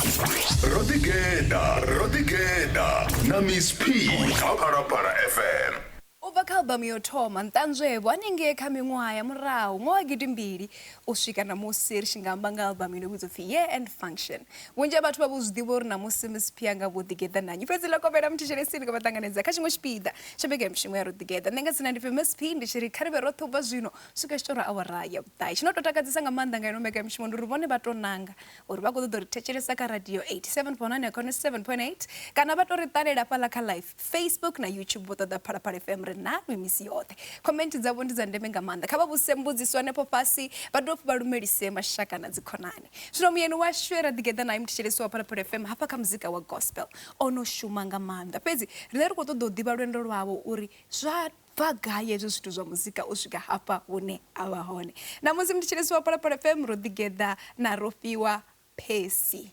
ro ḓi geḓa ro ḓi geḓa na miss p kha phalaphala fm U bva kha albamu ya u thoma, Nṱanzwe-vho, hanengei kha miṅwaha ya murahu nga wa gidimbili u swika ṋamusi ri tshi nga amba nga albamu ino vhidzwa u pfi Year End Function. Vhunzhi ha vhathu vha vho zwi ḓivha uri ṋamusi Miss P a nga vha o ḓigeḓa na nnyi. Fhedzi ḽa kovhela muthetshelesi ḽi khou vha ṱanganedza kha tshiṅwe tshipiḓa tsha mbekanyamushumo ya Ro Ḓigeḓa. Nṋe nga dzina ndi pfi Miss P ndi tshi ri kha ri vhe roṱhe u bva zwino u swika zwi tshi tou ra awara ya vhuṱahe. Tshi no tou takadzesa nga maanḓa nga ino mbekanyamushumo ndi uri vhone vha tou nanga uri vha khou ṱoḓa u ri thetshelesa kha radio 87.9 kha 97.8 kana vha tou ri ṱalela fhaḽa kha live facebook na youtube vho ṱoḓa phalaphala fm ri nalwi misi yoṱhe comment dzavho ndi dza ndeme nga maanḓa kha vha vhuse mbudziso hanefho fhasi vha dovha vha lumelise mashaka na dzikhonani zwino muyeni washu e ra ḓigeḓa naye muthetshelesi wa phalaphala fm hafha kha muzika wa gospel o no shuma nga maanḓa fhedzi riṋe ri khou ṱoḓa u ḓivha lwendo lwawo uri zwa bva gai hezwi zwithu zwa muzika u swika hafha hune a vha hone. Na musi ndi tshi lisiwa Phalaphala FM ro ḓigeḓa na Rofhiwa Percy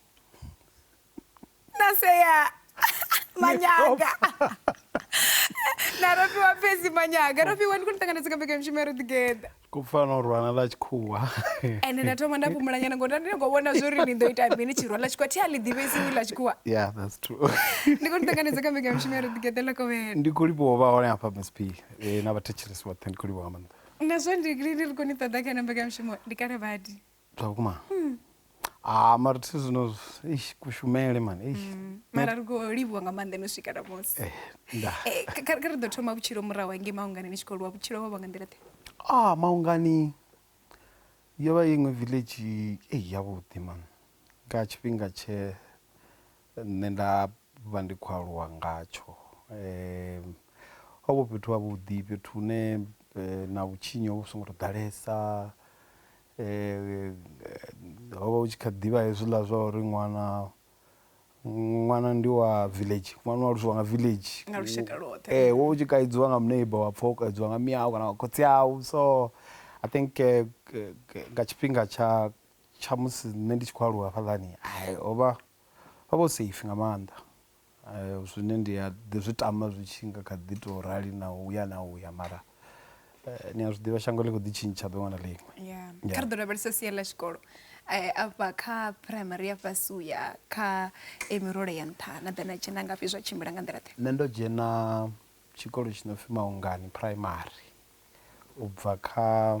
na Sea Manyaga na Rofhiwa Percy Manyaga. Rofhiwa, ndi khou ni ṱanganedza kha mbekanyamushumo ya ro ḓigeḓa. ku pfa no rwana ḽa tshikhuwa ende nda thoma nda fhumula nyana ngori ndi khou vhona zwo ri ni ḓo ita mini tshirwa ḽa tshikhuwa thi a ḽi ḓivhesi ḽa tshikhuwa yeah that's true ndi khou ni ṱanganedza kha mbekanya mushumo ya ri ḓigeḓa ḽa kovhela ndi khou livhuwa vha hone hafha msp eh, na vhathetshelesi vhoṱhe ndi khou livhuwa nga maanḓa na zwo ndi ndi ri khou ni ṱoḓa kha na mbekanya mushumo ndi kale badi zwa vhukuma mm. ah mara thi zwino eish kushumele man eish mm. mara ri khou livhuwa nga maanḓa no swika namusi eh, eh, kha ri ḓo thoma vhutshilo murahu hangei maungani ni tshi khou lwa vhutshilo ho vha nga nḓila ḓe ah maungani yo vha iṅwe village ei yavhuḓi man nga tshifhinga tshe nṋe nda vha ndi khou aluwa ngatsho um ho vho fhethu havhuḓi fhethu hune eh, na vhutshinyi ho vhu songo to ḓalesa ho vha hu tshi kha ḓivha hezwiḽa zwa uri ṅwana ṅwana ndi wa village ṅwana u aluswa nga village nga lushaka lwoṱhe eh wo tshi kaidziwa nga muneiba wa pfha u kaidziwa nga miyau kana nga khotsi au so i think eh, nga tshifhinga tsha tsha musi nṋe ndi tshi khou aluwa hafhaḽani hai ho vha ho vha safe nga maanḓa Zwine ndi a ḓi zwi tama zwi tshi nga kha ḓi tou rali na u ya na u ya mara ni a zwi ḓivha shango ḽi kho ḓi tshintsha ḓuvha na ḽiṅwe. Kha ri ḓo lavhelesa sia ḽa tshikolo afha kha phuraimari ya fhasi u ya kha e mirole ya nṱha na ḓa na dzhena ngafhi zwa tshimbila nga nḓila ḓe? Nṋe ndo dzhena tshikolo tshi no pfhi Maungani phuraimari u bva kha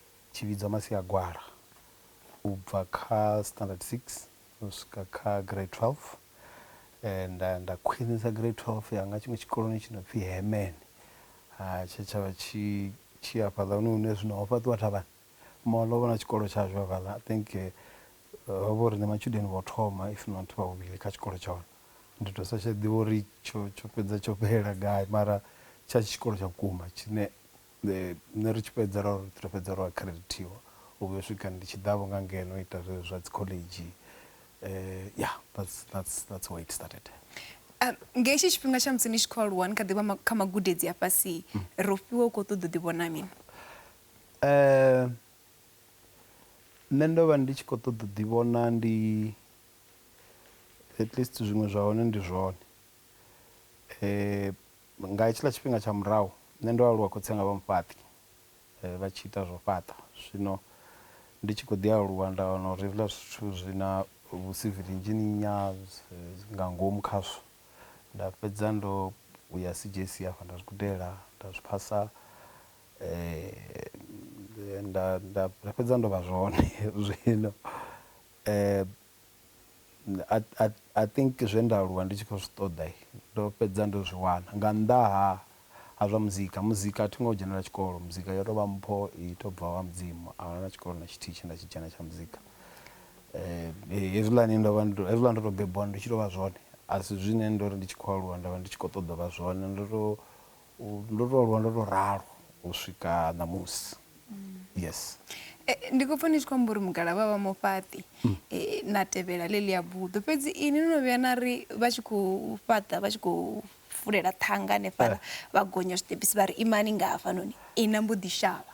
tshi vhidzwa Masiagwala u bva kha standard 6 u swika kha grade 12 nda nda khwinisa grade 12 yanga tshiṅwe tshikoloni tshi no pfi Hemen ha tshe tshavha tshi tshi afhaḽa hune hune zwino ho fhaṱiwa thavhani mall ho vha na tshikolo tshashu hafhaḽa I think ho vha uri ndi matshudeni vho thoma if not vha vhuvhili kha tshikolo tsha hone ndi to sa tsha ḓivha uri tsho tsho fhedza tsho fhelela gai mara tsha tshikolo tsha vhukuma tshine Nṋe ri tshi fhedza ra ri ri fhedza ro akhiredithiwa u vhuya u swika ndi tshi ḓa vho nga ngeno ita zwezwo zwa dzi khoḽedzhi ya that's that's that's where it started. Nga hetshi tshifhinga tsha musi ni tshi kho aluwa ni kha ḓivha kha magudedzi a fhasi ro fhiwa u kho ṱoḓa u ḓi vhona mini? Nṋe ndo vha ndi tshi kho ṱoḓa u ḓi vhona ndi at least zwiṅwe zwa hone ndi zwone. Nga hetshiḽa tshifhinga tsha murahu, nṋe ndo aluwa khotsi anga vha mufhaṱi, vha tshi ita zwa u fhaṱa. Zwino ndi tshi kho ḓi aluwa nda wana uri hezwiḽa zwithu zwi na vhu civil engineer nga ngomu khazwo. Nda fhedza ndo ya CJC hafha nda zwi gudela nda zwi phasa, nda nda nda fhedza ndo vha zwone zwino . I, I, I think zwe nda aluwa ndi tshi khou zwi ṱoḓa ndo fhedza ndo zwi wana nga nnḓa ha ha zwa muzika. Muzika a thi ngo dzhenela tshikolo, muzika yo tou vha mpho i tou bva ha Mudzimu. A huna tshikolo na tshithihi tshe nda tshi dzhena tsha muzika. Hezwiḽani ndo vha ndo, hezwiḽa ndo tou bebiwa ndi tshi tou vha zwone a si zwine ndo ri ndi tshi khou aluwa nda vha ndi tshi khou ṱoḓa u vha zwone. Ndo tou Ndo to aluwa ndo to ralo u swika ṋamusi yes eh, ndi khou pfa ni tshi khou amba uri mugalavha vha mufhaṱi mm. eh, na tevhela ḽeḽi ya buḓo fhedzi ini no no vhuya na ri vha tshi khou fhaṱa vha tshi khou fulela ṱhanga hanefhala eh. vha gonya zwiṱepisi vha ri imani nga hafhanoni ina mbo ḓi shavha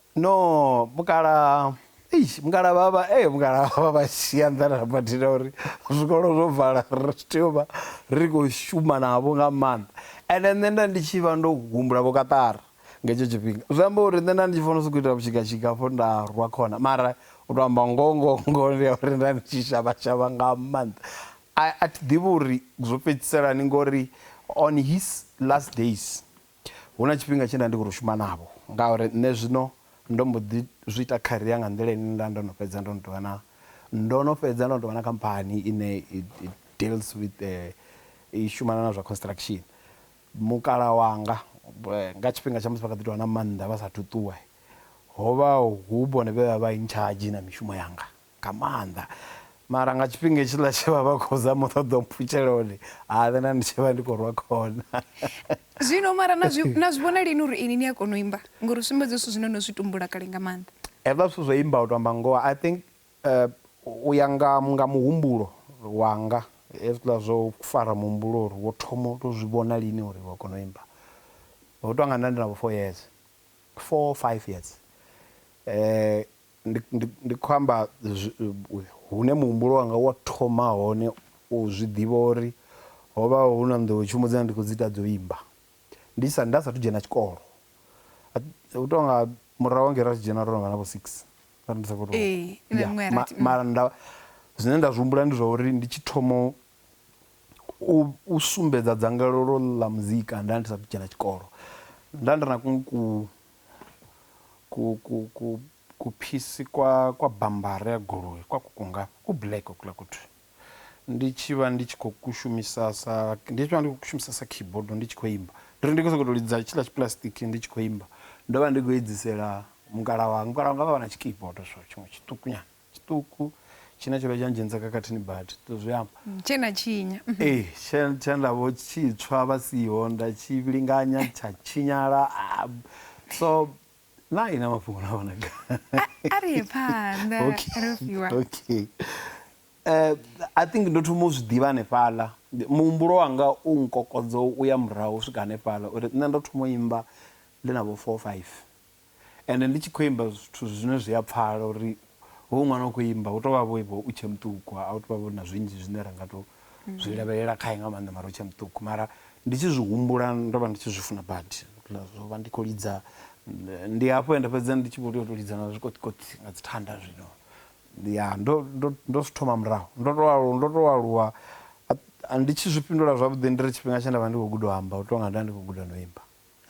No mukalaha eish mukalaha vha vha ee mukalaha vha vha shia nḓani ha badi na uri zwikolo zwo vala ri tshi tea u vha ri khou shuma navho nga maanḓa ende nṋe nda ndi tshi vha ndo humbula vho kaṱara nga hetsho tshifhinga zwi amba uri nṋe nda ndi tshi fanela u sokou ita vhushigatshika hafho nda rwa khona mara u tou amba ngoho ngoho ngoho ndi ya uri nda ndi tshi shavha shavha nga maanḓa a a thi ḓivhi uri zwo fhedzisela hani ngori on his last days. Hu na tshifhinga tshe nda ndi khou tou shuma navho ngauri nṋe zwino ndo mbo ḓi zwi ita career nga nḓila ine nda ndo no fhedza ndo no tou vha na, ndo no fhedza ndo no tou vha na khamphani ine i deals with i shumana na zwa construction. Mukalaha wanga nga tshifhinga tsha musi vha kha ḓi tou vha na maanḓa vha saathu ṱuwa, ho vha hu vhone vhe vha vha in charge na mishumo yanga. nga maanḓa mara nga tshifhinga hetshiḽa tshe vha vha khou zama u ṱoḓa u mpfutshela hone ha na ndi tshi vha ndi khou rwa khona zwino mara na zwi na zwi vhona lini uri ini ni a kona u imba ngori sumbedza zwithu zwine no zwi tumbula kale nga maanḓa hezwiḽa zwithu zwo imba u to amba ngoho i think eh, u ya nga nga muhumbulo wanga hezwiḽa zwo fara muhumbulo uri wo thoma u to zwi vhona lini uri wa kona u imba ho tou nga nda ndi na vho four years four five years eh Ndi, ndi, ndi khou amba hune muhumbulo wanga wa thoma hone u zwi ḓivha uri ho vha hu na nḓowetshumo dzine ndi khou dzi ita dzo imba ndi sa, nda sathu dzhena tshikolo. U tou nga murahu hangei ra tshi dzhena ro no vha na vho six, nda ri ndi sa khou tou. Ee, na Yeah, miṅwe ya ma, rathi. Mm. mara nda, zwine nda zwi humbula ndi zwa uri ndi tshi thoma u, u, u sumbedza dzangalelo ḽa muzika nda ndi sathu dzhena tshikolo. Nda ndi na ku, ku, ku ku ku kuphisi kwa kwa bambara ya goloi kwa kuku ngafha ku black hokula kuthu ndi tshi vha ndi tshi khou kushumisa sa ndi tshi vha ndi khou kushumisa sa keyboard ndi tshi khou imba ndi ri ndi khou sokou tou lidza tshiḽa tshipulasitiki ndi tshi khou imba ndo vha ndi khou edzisela mukala wanga mukala wanga vha vha na tshikeyboard so tshiṅwe tshiṱukunyana tshiṱuku tshine tsho vha tsha ndzhenisa khakhathini badi to zwi amba tshe na tshinya mhm. ee tshe tshe nda vho tshitswa vha siho nda tshi linganya tsha tshinyala ah, so na ina mafhungo na vhona a ri ye phanḓa ro fiwa okay eh i think ndo thoma u zwi ḓivha hanefhaḽa muhumbulo wanga u nkokodzo u ya murahu u swika hanefhaḽa uri nṋe ndo thoma u imba ndi na vho 4 5 Ende ndi tshi khou imba zwithu zwine zwi a pfala uri hoyu ṅwana u khou imba hu tou vha vho vho u tshe muṱuku a hu tou vha vho na zwinzhi zwine ra nga tou zwi lavhelela khae nga maanḓa mara u tshe muṱuku mara ndi tshi zwi humbula ndo vha ndi tshi zwi funa badi zwo vha ndi khou lidza ndi hafho ende fhedzi ndi tshi vho tea u tou lidza na zwikoṱikoṱi nga dzi thanda zwino ya ndo ndo ndo zwi thoma murahu ndo to aluwa ndo to aluwa ndi tshi zwi fhindula zwavhuḓi ndi ri tshifhinga tshe nda vha ndi khou guda u amba u tou nga nda ndi khou guda no imba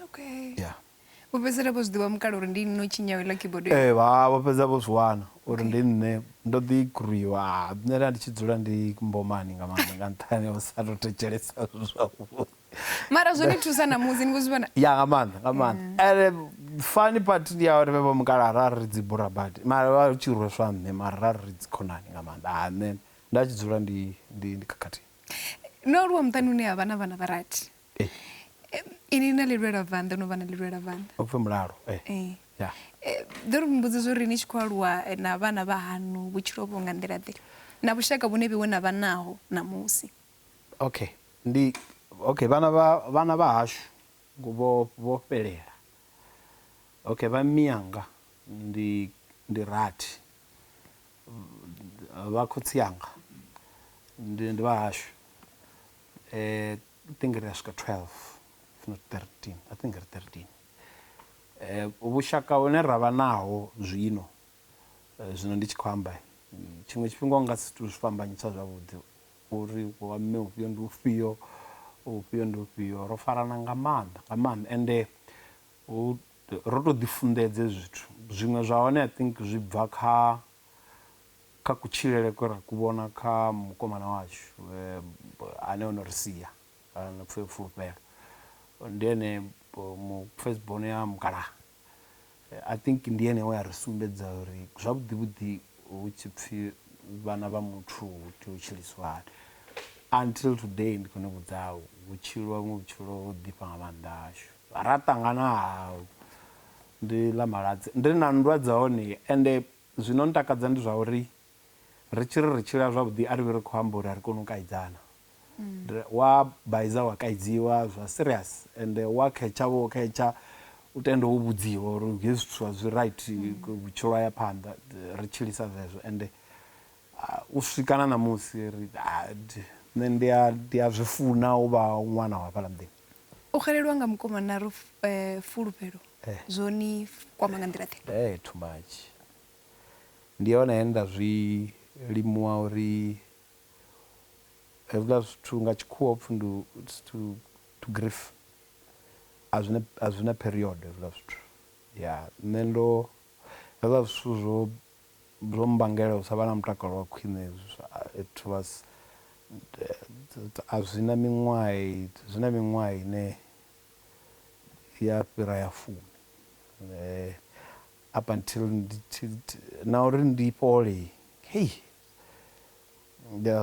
okay yeah vho fhedzisela vho zwi ḓivha mukala uri ndi nne u tshinyaho iḽa keyboard ee eh, vha vho fhedza vho zwi wana uri ndi nne ndo ḓi gruiwa ah, nṋe nda ndi tshi dzula ndi mbomani nga maanḓa nga nṱhani o sa to thetshelesa zwavhuḓi mara zwo ni thusa na musi ni khou zwi vhona ya nga maanḓa nga maanḓa ene fani part ndi ya uri vhe vho mukala ra ri dzi bura badi mara vha tshi rweswa nṋe mara ra ri dzi khonani nga maanḓa ha ah, nṋe nda tshi dzula ndi ndi ndi khakhathini no aluwa muṱani une ha vha na vhana vha rathi Inwi na lilwelavhanḓa, o no vha na lilwelavhanḓa. Upfi mulalo, ee. Ḓo ri mbudziso uri ni tshi khou aluwa na vhana vha haṋu vhutshilo ho vha nga nḓila-ḓe na vhushaka vhune vheiwe na vha naho ṋamusi? Okay, ndi, okay, vhana vha, vhana vha hashu vho, vho fhelela. Okay, vha mmianga ndi, ndi rathi. Vha khotsi anga ndi, ndi vha hashu. Eh I think ri a swika twelve if not thirteen I think ri thirteen. Eh vhushaka hune ravha naho zwino zwino ndi tshi khou amba tshiṅwe tshifhinga u nga si to zwi fhambanyisa zwavhuḓi uri wa mme ufhio ndi ufhio ufhio ndi ufhio ro farana nga maanḓa nga maanḓa ende hu ro to ḓi funḓedza hezwi zwithu zwiṅwe zwa hone I think zwi bva kha Kha kutshilele kwe ra ku vhona kha mukomana washu ane o no ri sia, no pfi Fulufhelo, ndi ene mu first born ya mukalaha, I think ndi ene we a ri sumbedza uri zwavhuḓi vhuḓi hu tshi pfi vhana vha muthu hu tea u tshiliswa hani. Until today ndi khou ni vhudza hu tshiliwa vhuṅwe vhutshilo ho ḓifha nga maanḓa hashu. Ra ṱangana ha ndi ḽa Maladzi, ndi na nndwa dza hone ende Zwino ntakadza ndi zwa uri ri tshi ri ri tshila zwavhuḓi a ri vhi ri khou amba uri a ri koni u kaidzana. Wa baiza wa kaidziwa zwa serious ende wa khetsha wo khetsha u tende wo vhudziwa uri hezwi zwithu a zwi right vhutshilo ha ya phanḓa ri tshilisa zwezwo ende u swika na ṋamusi ri nṋe ndi a ndi a zwi funa u vha ṅwana wa hafhaḽa muḓini. O xelelwa nga mukomana ro fulufhelo zwo ni kwama nga nḓila ḓe? Hee too much. Ndi hone he nda zwi limuwa uri hezwiḽa zwithu nga tshikhuwa hupfi ndi it's to to grief a zwina a zwina period hezwiḽa zwithu ya nṋe ndo hezwiḽa zwithu zwo Zwo mmbangela u sa vha na mutakalo wa khwine hezwo it was a zwi na miṅwaha zwi na miṅwaha ine ya fhira ya fumi up until ndi tshi na uri ndi fhole hei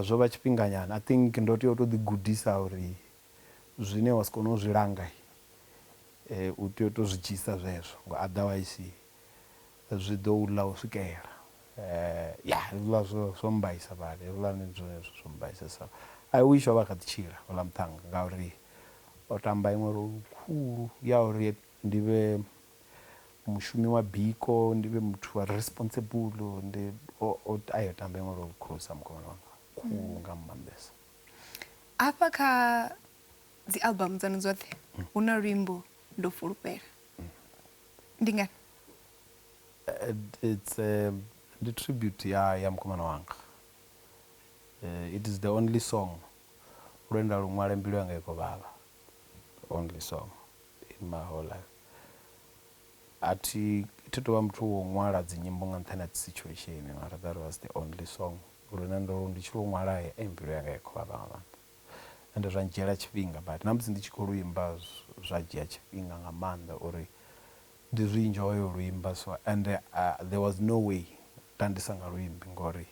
zwo vha tshifhinga nyana I think ndo tea u to ḓi gudisa uri zwine wa si kone u zwi langa u tea u to zwi dzhia zwezwo nga otherwise. zwi ḓo u ḽa u swikela. Ya, hezwiḽa zwo, zwo mmbaisa badi. Hezwiḽa ndi zwone zwithu zwo mmbaisesaho. I wish o vha a kha ḓi tshila houḽa muṱhannga ngauri o tamba iṅwe role khulu ya uri ndi vhe mushumi wa biko, ndi vhe muthu a re responsible. Ndi, o, o, ai o tamba iṅwe role khulusa mukomana wanga, khulu nga maanḓesa. Hafha kha dzi album dzaṋu dzoṱhe hu na luimbo Ndo Fulufhela. ndi ngani it's a, ndi tribute ya ya mukomana wanga uh, it is the only song lwenda luṅwale mbilu yanga i khou vhavha only song in my whole life a thi thi tovha muthu wo ṅwala dzinyimbo nga nṱhani ha situation mara that was the only song lune ndo ndi tshi lu ṅwala e mbilu yanga i khou vhavha nga maanḓa ende zwa ndzhiela tshifhinga but na musi ndi tshi kho luimba zwa dzhia tshifhinga nga maanḓa uri ndi zwi enjoy u luimba so ende there was no way nda ndi sa nga luimbi ngori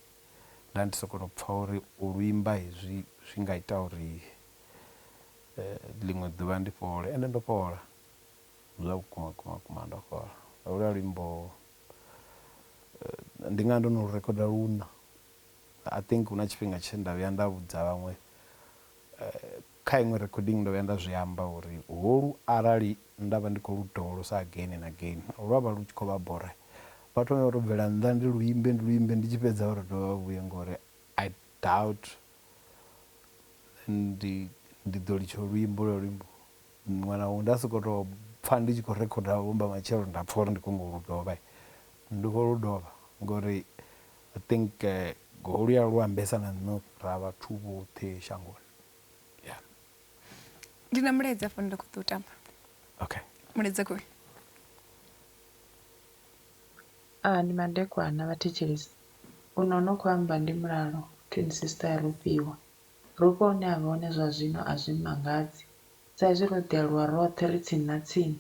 nda ndi soko to pfha uri u luimba hezwi zwi nga ita uri ḽiṅwe ḓuvha ndi fhole ende ndo fhola zwa vhukuma vhukuma vhukuma ndo fhola holwa luimbo ndi nga ndo no rikhoda luṋa. I think huna tshifhinga tshe nda vhuya nda vhudza vhaṅwe kha iṅwe recording ndo vhuya nda zwi amba uri holu arali nda vha ndi kho lu dovholosa again and again lwa vha lu tshi kho vha bora vha thome vha to bvela nnḓa ndi lu imbe ndi lu imbe ndi tshi fhedza vha to dovha vha vhuye ngori I doubt ndi ndi ḓo litsha u lu imba holwa luimbo muṅwe na muṅwe nda soko to pfha ndi tshi kho rikhoda vho mba matshelo nda pfha uri ndi kho nyago u lu dovha ndi kho lu dovha ngori I think Golia lu ambesa na nṋe ra vhathu vhoṱhe shangoni. Yeah. Ndi na mulaedza fhano nda kho ḓo tamba. Okay. Mulaedza kho. Ah ndi madekwana vha thetshelesi. Uno no kho amba ndi mulalo twin sister ya Rofhiwa. Rofhiwa hune avha hone zwa zwino a zwi mmangadzi sa izwi ro ḓi aluwa roṱhe ri tsini na tsini.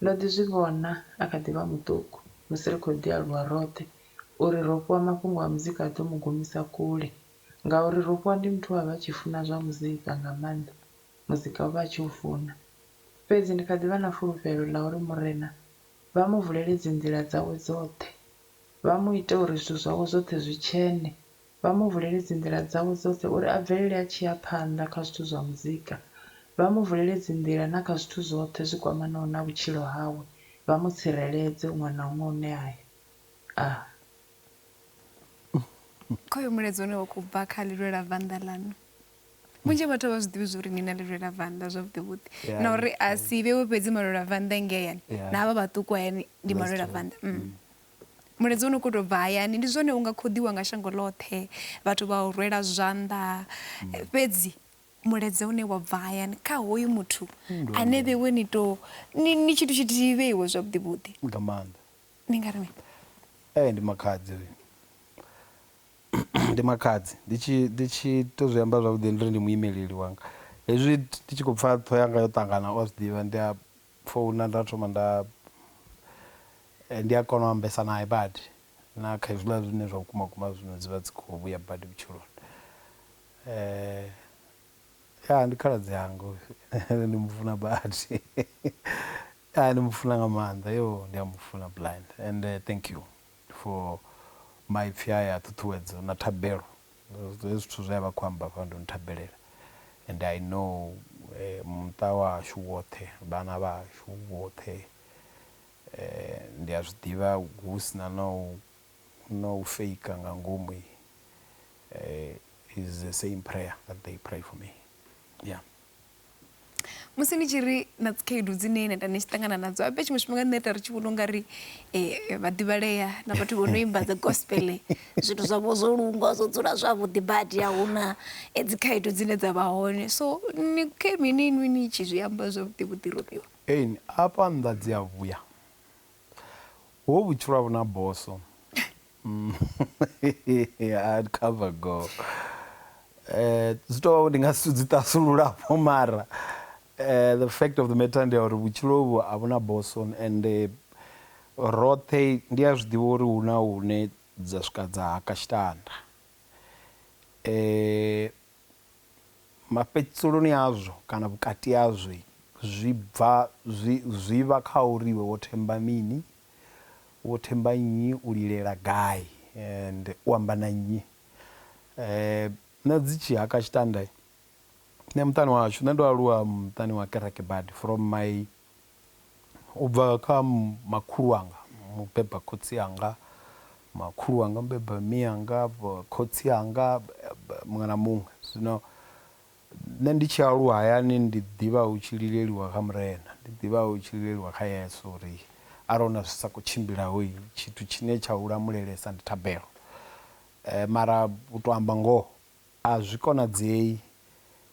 Ndo ḓi zwi vhona a kha ḓi vha muṱuku, musi ri khou ḓi aluwa roṱhe, uri ro fhiwa mafhungo a muzika a ḓo mu gumisa kule. Ngauri ro fhiwa ndi muthu we a vha a tshi funa zwa muzika nga maanḓa, muzika o vha a tshi u funa. Fhedzi ndi kha ḓi vha na fulufhelo ḽa uri Murena vha mu vulele dzinḓila dzawe dzoṱhe, vha mu ite uri zwithu zwawe zwoṱhe zwi tshene, vha mu vulele dzinḓila dzawe dzoṱhe uri a bvelele a tshi ya phanḓa kha zwithu zwa muzika, vha mu vulele dzinḓila na kha zwithu zwoṱhe zwi kwamanaho na vhutshilo hawe, vha mu tsireledze huṅwe na huṅwe hune a ya. Ah. Kha uyo mulaedza une wa khou bva kha Lilwela Vanda Ḽaṋu, vhunzhi ha vhathu a vha zwi ḓivhi zwa uri ni na Lilwela Vanda zwavhuḓi vhuḓi yeah, na uri a si vhewe fhedzi malwela vanda ngei hayani yeah. na havha vhaṱuku hayani ndi malwela vanda mm. mm. Mulaedza une u khou tou bva hayani, Ndi zwone u nga khoḓiwa nga shango ḽoṱhe, vhathu vha u rwela zwanḓa. Fhedzi mulaedza une wa bva hayani kha hoyu muthu ane vheiwe ni tou, ni, ni tshithu tshithihi vheiwe zwavhuḓi-vhuḓi. Nga maanḓa. Ni nga ri mini? Ee, ndi makhadzi hoyu. Ndi makhadzi. Ndi tshi, ndi tshi tou zwi amba zwavhuḓi ndi ri ndi muimeleli wanga. Hezwi ndi tshi khou pfa ṱhoho yanga yo ṱangana, u a zwi ḓivha, ndi a Founa nda thoma nda ndi a kona u ambesa nae badi na kha hezwiḽa zwine zwa vhukuma vhukuma zwino dzi vha dzi kho vhuya badi vhutshiloni ya ndi khaladzi anga hoyu ende ndi mufuna badi ya ndi mufuna nga maanḓa yo ndi a mufuna blind ende thank you. for maipfi aya a ṱhuṱhuwedzo na thabelo hezwi zwithu zwe a vha a khou amba hafha ndo no thabelela and I know muṱa wa hashu woṱhe vhana vha hashu vhoṱhe ndi a zwi ḓivha hu si na na u na u faker nga ngomu is the same prayer that they pray for me yeah. musi ni tshi ri na dzikhaedu dzine na ita ni tshi ṱangana nadzo abe tshiṅwe tshifhinga nṋe ita ri tshi vhona u nga ri um vhaḓivhalea na vhathu vho no imba dzi gospel zwithu zwavho zwo lungwa zwo dzula zwavhuḓi badi a huna eh, dzikhaedu dzine dza vha hone so ni khe mini inwi ni tshi zwi amba zwavhuḓi vhuḓi robiwa Ein, afha nnḓa dzi a vhuya ho vhutshilo a vhuna boso Mm, hard cover go eh zwi tou ndi nga si dzi tasulula po mara eh the fact of the matter ndi ya uri vhutshilo vhu a vhuna boson and eh, roṱhe ndi a zwiḓivha uri hu na hune dza swika dza haka tshitanda eh mafhedziselo-ni azwo kana vhukati hazwo zwi bva zwi zwi vha kha uri iwe wo themba mini, wo themba nnyi, u lilela gai and u amba na nnyi. Nṋe dzi tshi haka tshitanda, nṋe muṱani wa hashu nṋe ndo aluwa muṱani wa kereke badi from my U bva kha makhulu wanga mubeba khotsi anga, makhulu wanga mubeba mme anga, khotsi anga muṅwe na muṅwe. Zwino nṋe ndi tshi aluwa hayani ndi ḓivha hu tshi lileliwa kha Murena, ndi ḓivha hu tshi lileliwa kha Yesu uri arali huna zwi sa khou tshimbilaho tshithu tshine tsha u lamulelesa ndi thabelo. Mara u to amba ngoho A zwi konadzei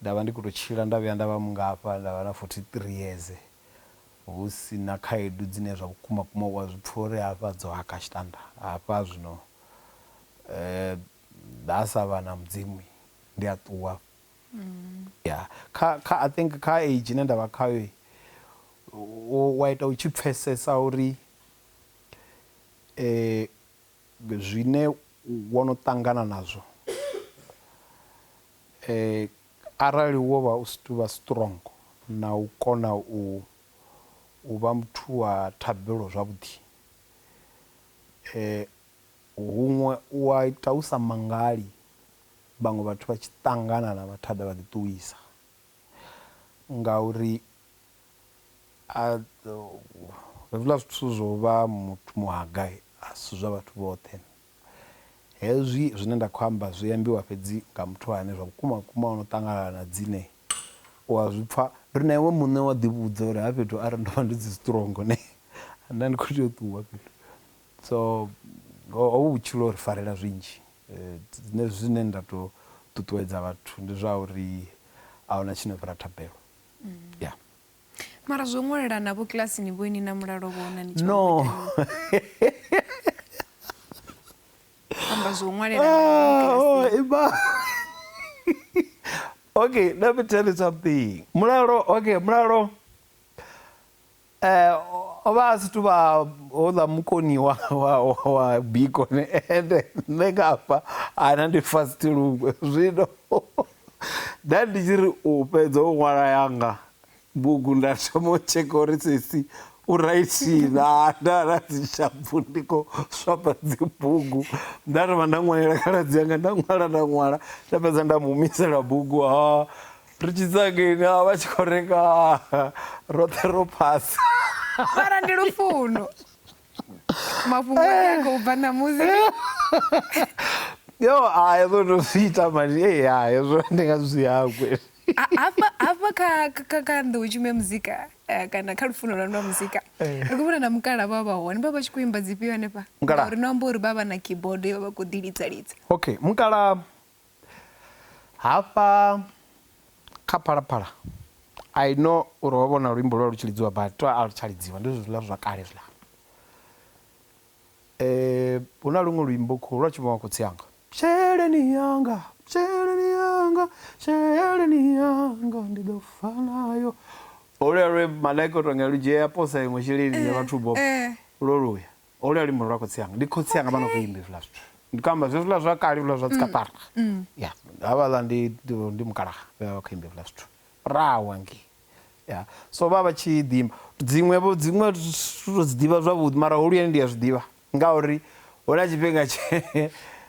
nda vha ndi khou tou tshila nda vhuya nda vha mungafha, nda vha na 43 yeze hu si na khaedu dzine zwa vhukuma kuma u a zwi pfa uri hafha dzo haka tshitanda hafha zwino nda sa vha na Mudzimu ndi a ṱuwa. Ya, kha, kha, I think kha age ine nda vha khayo u a ita u tshi pfesesa uri zwine wo no ṱangana nazwo arali wo vha u si tuvha strong na u kona u u vha muthu wa thabelo zwavhuḓi huṅwe u a ita u sa mangali vhaṅwe vhathu vha tshi ṱangana na mathada vha ḓi ṱuwisa ngauri A Hezwiḽa zwithu zwo vha muthu muHagai, a si zwa vhathu vhoṱhe. Hezwi zwine nda khou amba zwi ambiwa fhedzi nga muthu ane zwa vhukuma-vhukuma o no ṱanganana na dzine u a zwi pfa. Ri na iwe muṋe wa ḓivhudza uri ha fhethu arali ndo vha ndi si strong ne nda ndi khou tea u ṱuwa fhethu. So hovhu vhutshilo ho ri farela zwinzhi. Nṋe zwine nda tou ṱuṱuwedza vhathu ndi zwa uri a hu na tshi no fhira thabelo. ya mara zwo ṅwelela navho kilasini vho ini na mulalo vho ona ni no amba zwo ṅwelela ah, oh, ima okay let me tell you something mulalo okay mulalo O vha a si tuvha houḽa mukoni wa wa wa biko ne ende nṋe nga hafha ana ndi fast luṅwe zwino nda ndi tshi ri u fhedza u ṅwala yanga bugu nda thoma u tsheka uri sesi u raithi na nda na dzi shapfu ndi kho swapa dzi bugu nda ri vha nda ṅwalela khaladzi yanga nda ṅwala nda ṅwala nda fhedza nda mu humisela bugu ha ri tshi tsangeni a vha tshi khou renga roṱhe ro phasa mara ndi lufuno mafhungo a khou bva ṋamusi yo a hezwo ndo zwi ita mani e ya hezwo ndi nga zwi hangwe hafha kha kha kha nḓou tshimo ya muzika eh, kana kha lufuno lwa lwa muzika eh. ri khou vhona na mukala vha vha hone vha vha tshi khou imba dzifhio hanefha uri no amba uri vha vha na keyboard yo vha vha khou ḓi lidza lidza okay mukala Hafha kha Phalaphala I know uri ho vha huna luimbo lwa lu tshi lidziwa but to a lu tsha lidziwa ndi zwezwiḽa zwa kale zwiḽa. Huna luṅwe luimbo khou lwa tshi imbiwa nga khotsi anga sheleni yanga sheleni yanga sheleni yanga ndi ḓo fa nayo holuyani lwe malaika uto nga lu dzhia ya posa iṅwe sheleni ya vhathu bobo lwo luya. Holu ya luimbo ndi lwa khotsi anga, ndi khotsi anga vha no khou imba hezwiḽa zwithu. Ndi khou amba zwezwiḽa zwa kale hezwiḽa zwa dzikaṱara. Ya, havhaḽa ndi ndi mukalaha vhe vha vha khou imba hezwiḽa zwithu. Rrawe hangei. Ya, so vha vha tshi ḓi imba. Dziṅwe-vho, dziṅwe thi thu to dzi ḓivha zwavhuḓi mara holuyani ndi a zwi ḓivha ngauri hu na tshifhinga tshe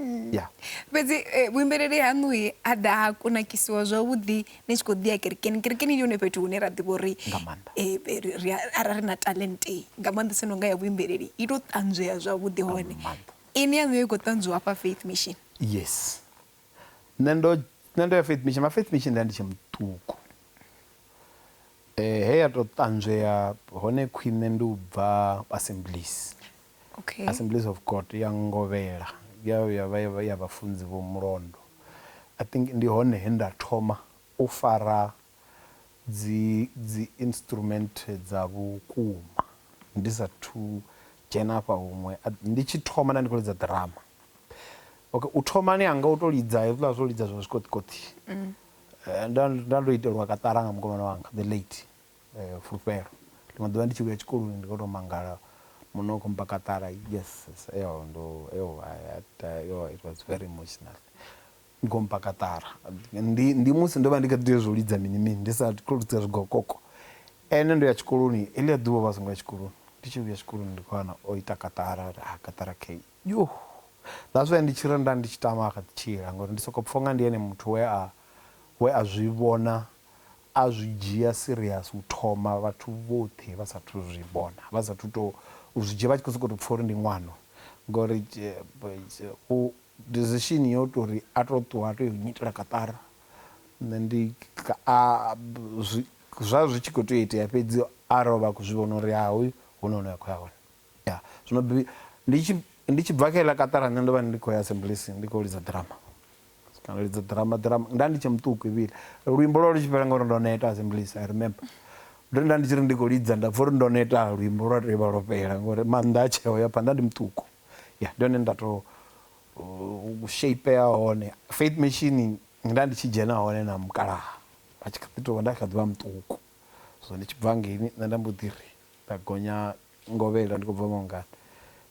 Mm. Yeah. fhedzi eh, vhuimbeleli haṋu he ha ḓa ha kunakisiwa zwavhuḓi ni tshi khou ḓi ya kerekeni kerekeni ndi hone fhethu hune ra ḓivha uri Nga maanḓa. eh, eh, ri- ri a- arali ri na talente nga maanḓesa no nga ya vhuimbeleli i tou ṱanzwea zwavhuḓi hone maanḓa. ini yaṋu yo i khou ṱanzwiwa hafha faith mission yes nṋe ndo nṋe ndo ya faith mission ma faith mission nda ndi tshe muṱuku eh he ya to ṱanzwea hone khwine ndi u bva assemblies Okay. Assemblies of God ya ngovhela ya ya vha ya vha ya vhafunzi vho mulondo I think ndi hone he nda thoma u fara dzi dzi instrument dza vhukuma ndi sa thu dzhena afha huṅwe ndi tshi thoma nda ndi kho lidza ḓirama okay u thomani hanga u to lidza hezwiḽa zwo lidza zwa zwikoṱikoṱi nda nda ndo itelwa kaṱara nga mukomana wanga the late fulufhelo. Ḽiṅwe ḓuvha ndi tshi vhuya tshikoloni ndi kho to mangala muṋe u kho mmba kaṱara yes ndo yo it was very emotional u kho mmba kaṱara ndi ndi musi ndo vha ndi kha ḓi tea zwo lidza mini mini ndi sa kho lidza zwigokoko ene ndo ya tshikoloni heḽia ḓuvha ovha a songo ya tshikoloni ndi tshi vhuya tshikoloni ndi kho wana o ita kaṱara uri ha kaṱara kheyi yoh that's why ndi tshi ri nda ndi tshi tama a kha ḓi tshila ngori ndi soko pfha unga ndi ene muthu we a we a zwi vhona A zwi dzhia serious u thoma vhathu vhoṱhe vha sathu zwi vhona vha sathu to u zwi dzhia vha tshi kho soko to pfha uri ndi ṅwano ngori u decision yo tori a to ṱuwa a to yo nyitela kaṱara nṋe ndi a zwi zwa zwi tshi kho tea u itea fhedzi arali ovha a kho zwi vhona uri ha hoyu huna hune a kho ya hone. Ya, zwino bi, ndi tshi, ndi tshi bva kha iḽa kaṱara nṋe ndo vha ndi khou ya Assemblies ndi khou lidza ḓirama. Kana u lidza ḓirama, ḓirama, nda ndi tshe muṱuku Evile. Luimbo lwo vha lu tshi fhela ngauri ndo neta Assemblies, I remember. Ndo ri nda ndi tshi ri ndi khou lidza nda pfa uri ndo neta, luimbo lwa tou vha lwo fhela ngauri maanḓa a tsheo ya phanḓa, nda ndi muṱuku. Ya, ndi hone nda tou u shapea hone. Faith Mission nda ndi tshi dzhena hone na mukalaha. Vha tshi kha ḓi tou vha, nda kha ḓi vha muṱuku. Zwino ndi tshi bva hangeini nṋe nda mbo ḓi ri. Nda gonya ngovhela ndi khou bva mangani.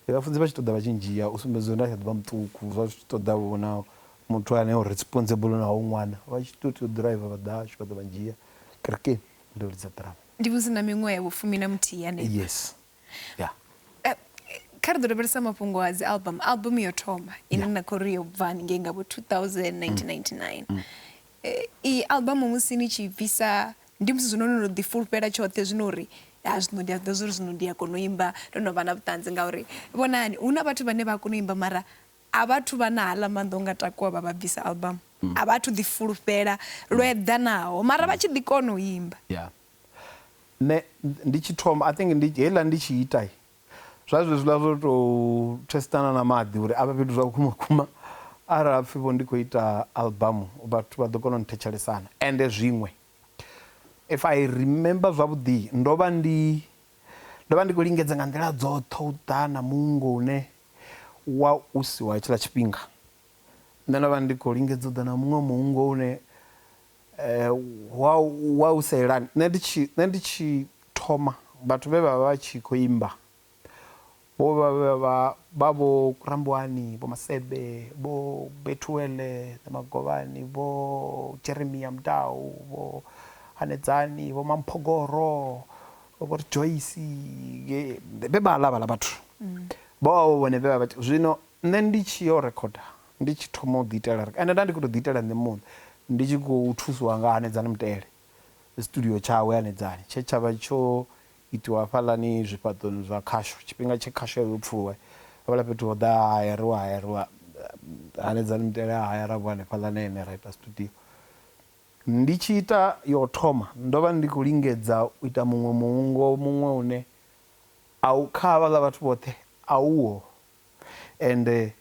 Ndi vhafunzi vha tshi ṱoḓa vha tshi ndzhia u sumbedza uri nda kha ḓi vha muṱuku zwa zwi tshi ṱoḓa vho na muthu ane o responsible na hoyu ṅwana vha tshi tou tea u ḓiraiva vha ḓa hashu vha ḓa vha ndzhia kerekeni ndo lidza ḓirama. Ndi musi na miṅwaha ya vhu fumi na muthihi hanefha. Yes. Ya. Kha ri ḓo lavhelesa mafhungo a dzi album. Album yo thoma ine na khou ri yo bva haningei nga vho 2000, 1999 Iyi album musi ni tshi i bvisa ndi musi zwino no no ḓi fulufhela tshoṱhe zwino uri ha zwino ndi a zwiḓivha zwori zwino ndi a kona u imba ndo no vha na vhuṱanzi ngauri vhonani hu na vhathu vhane vha a kona u imba mara a vha thu vha na haḽa maanḓa o nga takuwa vha vha bvisa album a vha thu ḓi fulufhela lwo eḓanaho mara vha tshi ḓi kona u imba. Yeah nṋe ndi tshi thoma I think ndi heiḽa ndi tshi ita Zwa zwezwiḽa zwo tou thesitana na maḓi uri a vhe fhethu zwa vhukuma vhukuma. Arali ha pfi vho ndi khou ita albamu vhathu vha ḓo kona u nthetshelesana. Ende zwiṅwe if I remember zwavhuḓi ndo vha ndi ndo vha ndi khou lingedza nga nḓila dzoṱhe u ḓa na muungo une wa u si wa hetshiḽa tshifhinga. Nṋe ndo vha ndi khou lingedza u ḓa na muṅwe muungo une. Wa, wa u sa yelani. Nṋe ndi tshi, nṋe ndi tshi thoma, vhathu vhe vha vha vha tshi khou imba vho vha vha vha vha vho Rambuwani, Vho Masebe, Vho Bethuel Magovhani, Vho Jeremia Mudau, Vho Hanedzani, Vho Mamphogoro, Vho Ri Joyce, vhe vhaḽa vhaḽa vhathu. Vho vha vho vhone vhe vha vha tshi, zwino nṋe ndi tshi yo rekhoda Ndi tshi thoma u ḓiitela ri, ende nda ndi khou tou ḓiitela nṋe muṋe, ndi tshi khou thusiwa nga Hanedzani Mutele, studio tshawe Hanedzani tshe tsha vha tsho itiwa hafhaḽani zwifhaṱoni zwa khasho, tshifhinga tshe khasho ya vha yo pfuluwa, hafhaḽa fhethu ho ḓa ha hayariwa, ha hayariwa, Hanedzani Mutele a hayara vho hanefhaḽa na ene ra ita studio. Ndi tshi ita ya u thoma, ndo vha ndi khou lingedza u ita muṅwe muungo muṅwe une a u, kha havhaḽa vhathu vhoṱhe a uho, Ende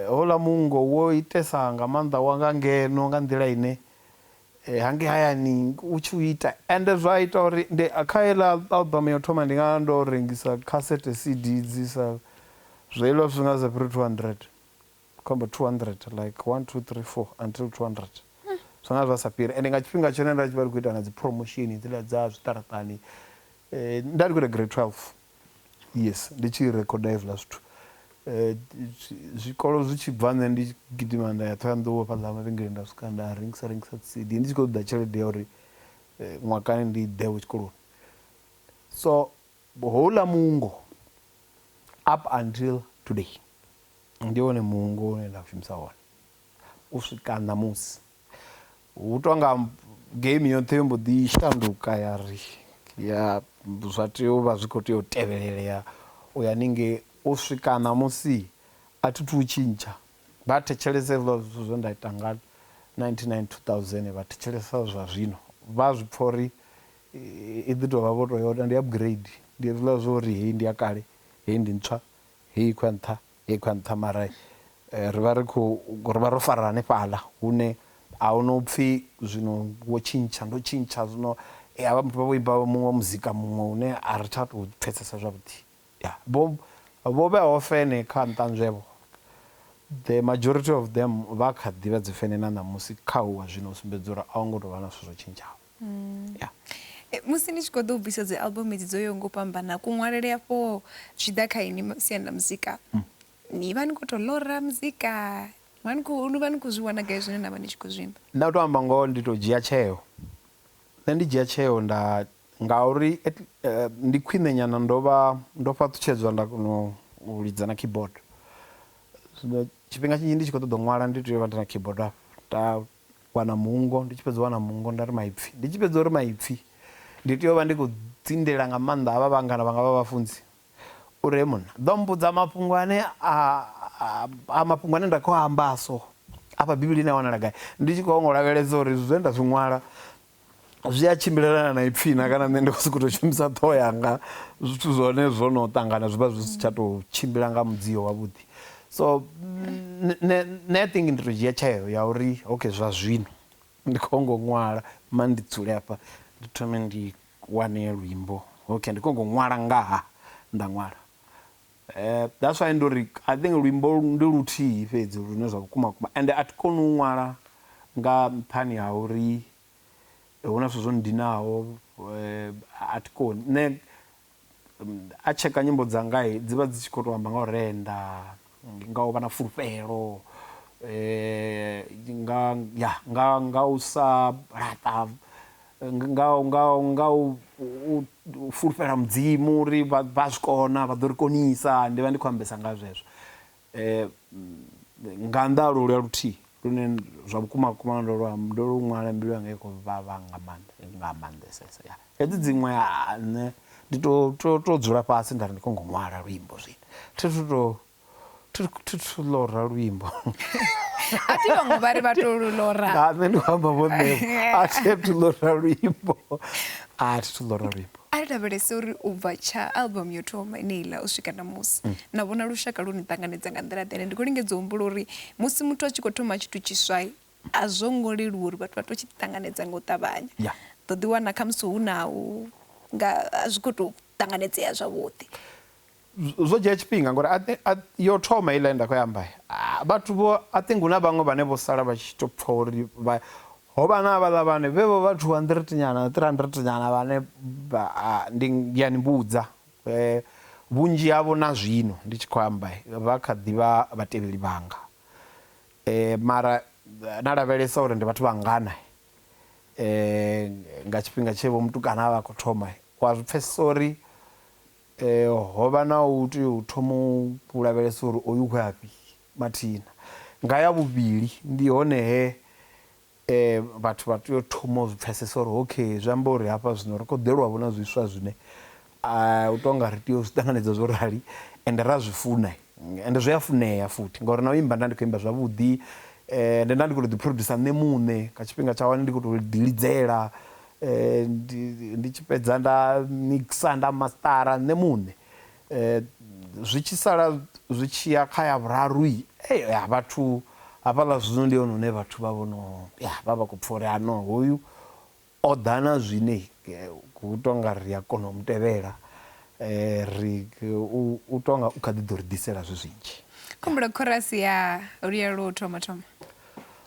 houḽa muungo wo itesa nga maanḓa wa nga ngeno nga nḓila ine hangei hayani u tshi u ita. Ende zwa ita uri ndi kha heiḽa album ya u thoma ndi nga vha ndo rengisa khasete, CD, dzi sa zwi heiḽa zwithu zwi nga si fhire 200, ndi khou amba 200 like one, two, three, four until 200 zwi nga zwa sa fhiri. Ende nga tshifhinga tshone nda tshi vha ndi khou ita na dzi promotion hedziḽa dza zwiṱaraṱani nda ndi khou ita grade 12. Yes ndi tshi recorder hezwiḽa zwithu zwikolo zwi tshi bva nṋe ndi tshi gidima nda ya Ṱhohoyanḓou hafhaḽa mavhengeleni nda swika nda rengisa rengisa dzi cd ndi tshi kho ṱoḓa tshelede ya uri ṅwakani ndi ḓe vho tshikoloni so houḽa muungo up until today ndi wone muungo une nda u shumisa wone u swika ṋamusi. Hu tonga game yoṱhe yo mbo ḓi shanduka ya ri ya zwa tea u vha zwi kho tea u tevhelelea u ya haningei u swika ṋamusi a thi thu u tshintsha vha thetshelesa hezwiḽa zwithu zwe nda ita nga nineteen ninety two thousand vha thetshelesa zwa zwino vha zwi pfha uri i ḓi tovha vho to yone ndi upgrade ndi hezwiḽa zwa uri heyi ndi ya kale heyi ndi ntswa heyi i khou ya nṱha Ngei kha nṱha mara ri vha ri khou, ri vha ro fara hanefhaḽa hune a hu no pfhi zwino wo tshintsha, ndo tshintsha zwino. Ha vha vha vho imba muṅwe muzika muṅwe une a ri tsha tou pfhesesa zwavhuḓi. Ya, vho vho vheaho fene kha nṱanzwevho, the majority of them vha kha ḓi vha dzi fene na ṋamusi kha uwa zwino u sumbedza uri a ho ngo tou vha na zwithu zwo tshintshaho. Mm. Yeah. E, musi ni tshi khou ḓo u bvisa dzi album edzi dzo yo ngo fhambana kuṅwalele afho zwi ḓa kha ini siani ḽa muzika mm. ni vha ni khou tou lora muzika ni vha ni khou zwi wana gai zwine na vha ni tshi khou zwimba nda u tou amba ngoho ndi tou dzhia tsheo nṋe ndi dzhia tsheo nda ngauri eh, ndi khwine nyana ndo vha ndo fhaṱutshedzwa nda kona u lidza na keyboard zwino tshifhinga tshinzhi ndi tshi khou ṱoḓa u ṅwala ndi tea u vha ndi na keyboard afho wana muungo, ndi tshi fhedza u wana muungo nda ri maipfi, ndi tshi fhedza uri maipfi ndi tea u vha ndi khou dzindela nga maanḓa havha vhangana vhanga vha vhafunzi uri hee munna ḓo mmbudza mafhungo ane a mafhungo ane nda khou a amba a so afha Bivhilini a wanala gai, ndi tshi khou ngo lavhelesa uri zwine nda zwi ṅwala zwi a tshimbilelana na ipfhi na kana nṋe ndi khou sokou tou shumisa ṱhoho yanga zwithu zwa hone zwo no ṱangana zwi vha zwi si tsha tou tshimbila nga mudzio wavhuḓi so nṋe i think ndi tou dzhia tsheo ya uri okay zwa zwino ndi khou ngo ṅwala ma ndi dzule hafha ndi thome ndi wane luimbo okay ndi khou ngo ṅwala ngaha nda ṅwala. That's why ndo ri I think luimbo ndi luthihi fhedzi lune zwa vhukuma vhukuma ende a thi koni u ṅwala nga nṱhani ha uri hu na zwithu zwo nndinaho a thi koni. Nṋe a tsheka nyimbo dzanga dzi vha dzi tshi khou tou amba nga u renda, nga u vha na fulufhelo, nga ya nga u sa laṱa. nga nga nga u fulufhela mudzimu uri vha vha zwi kona vha ḓo ri konisa ndi vha ndi khou ambesa nga zwezwo um nga nnḓa ha lolwa luthihi lune zwa vhukuma vhukuma ndo lwa ndo lu ṅwala mbilu yanga i khou vhavha nga maanḓa nga maanḓesesa ya hedzi dziṅwe nṋe ndi to to to dzula fhasi nda ri ndi kho ngo ṅwala luimbo zwino thi thu to thuthu lora luimbo a thi vhaṅwe vha ri vha to lu lora nga nṋe ndi amba vho nṋe a thi thu lora luimbo a thi thu lora luimbo a ri lavhelese uri u bva tsha album yo thoma ine iḽa u swika na musi mm. na vhona lushaka lu ni ṱanganedza nga nḓila ḓene ndi khou lingedza u humbula uri musi muthu a tshi khou thoma tshithu tshiswa a zwo ngo leluwa uri vhathu vha to tshi ṱanganedza nga u ṱavhanya ḓo ḓiwana khamusi hu na u nga a zwi khou tou ṱanganedzea zwavhuḓi zwo dzhia tshifhinga ngori a thi, a, yo thoma heiḽa ye nda khou i amba, a, vhathu vho, I think hu na vhaṅwe vhane vho sala vha tshi tou pfa uri vha, ho vha na havhaḽa vhane, vhe vho vha two hundred nyana, three hundred nyana vhane vha, a, ndi, ndi a ni vhudza, vhunzhi havho na zwino ndi tshi khou amba vha kha ḓi vha vhatevheli vhanga. Mara na lavhelesa uri ndi vhathu vha ngana nga tshifhinga tshe vho mutukana a vha a khou thoma, u a zwi pfesesa uri Ho vha na u tea u thoma u lavhelesa uri oyu u khou ya fhi mathina. Nga ya vhuvhili ndi hone he vhathu vha tea u thoma u zwi pfesesa uri okay zwi amba uri hafha zwino ri khou ḓelwa vho na zwiswa zwine u to nga ri tea u zwi ṱanganedza zwo rali ende ra zwi funa ende zwi a funea futhi ngauri na u imba nda ndi kho imba zwavhuḓi ende nda ndi kho to ḓi producer nṋe muṋe nga tshifhinga tsha hone ndi kho to ḓi lidzela. Ndi tshi fhedza nda mixer nda mastara nṋe muṋe zwi tshi sala zwi tshiya kha ya vhuraru ya vhathu hafhaḽa zwino ndi hone hune vhathu vha vhono ya vha vha kho pfha uri hano hoyu o ḓa na zwine hu tonga ri a kona u mutevhela ri u tonga u kha ḓi ḓo ri ḓisela zwi zwinzhi. Khumbula khorasi ya luya lwo thoma thoma.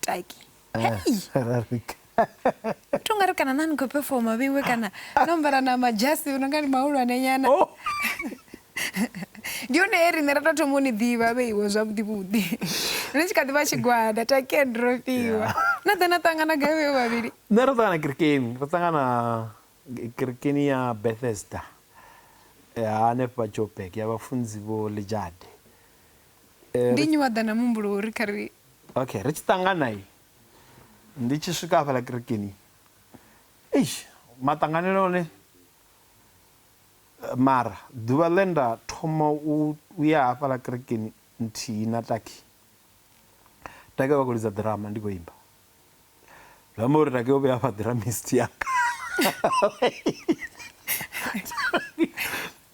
taki hei to nga ri kana na ni khou pefoma vheiwe kana no ambara na majasi no nga ni mahulwane nyana oh. ndi hone he riṋe ra tou thoma u ni ḓivha vheiwe zwavhuḓi vhuḓi ri tshi kha ḓi vha tshigwada taken ro fhiwa na ḓa na ṱangana gai vheiwe vhavhili nṋe ro ṱangana kirikeni ro ṱangana kirikeni ya bethesda hanefha jobek ya vhafunzi vho lijade Ndi nnyi wa ḓa na muhumbulo wo ri kha ri. Okay, ri tshi ṱangana i. Ndi tshi swika hafhaḽa kerekeni. Eish, maṱanganele one. Mara ḓuvha ḽe nda thoma u ya hafhaḽa kerekeni nthihi na Taki. Taki vha khou lidza ḓirama ndi khou imba. zwi amba uri rake o vhuya fha dramist yanga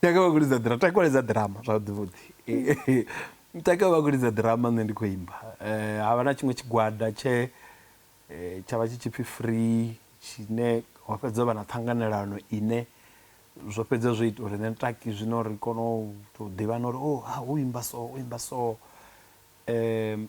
take vha kulidza drama take kulidza drama zwavhuḓi vhuḓi take vha kulidza drama nṋe ndi khou imba eh, ha vha na tshiṅwe tshigwada tshe eh, tsha vha tshi tshipfi free tshine ho fhedza vha na ṱhanganelano ine zwo fhedza zwo ita uri nṋe taki zwino ri kone u tou ḓivhana uri o oh, ha u imba so u imba so um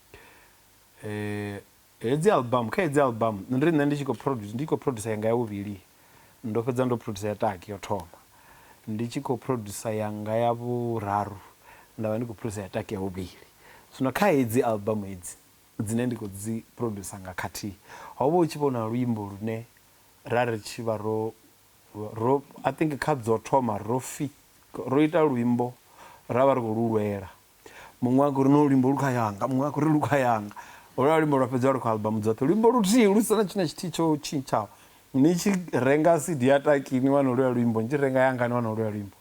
eh hedzi album kha hedzi album nṋe ndi nṋe ndi tshi khou produce ndi khou producer yanga ya vhuvhili ndo fhedza ndo producer ya taki yo thoma ndi tshi khou producer yanga ya vhuraru nda vha ndi khou producer ya taki ya vhuvhili zwino kha hedzi album hedzi dzine ndi khou dzi producer nga khathihi ho vha hu tshi vhona luimbo lune ra ri tshi vha ro ro I think kha dzo thoma ro fi ro ita luimbo ra vha ri khou lu lwela Muṅwe a khou ri, No luimbo lu kha yanga. Muṅwe a khou ri, Lu kha yanga. Holwuḽa luimbo lwa fhedziwa lu kha album dzoṱhe. Luimbo luthihi lu si na tshithu na tshithihi tsho tshintshaho. Ni tshi renga CD ya Taki ni wana holwuḽa luimbo, ni tshi renga yanga ni wana holwuḽa luimbo.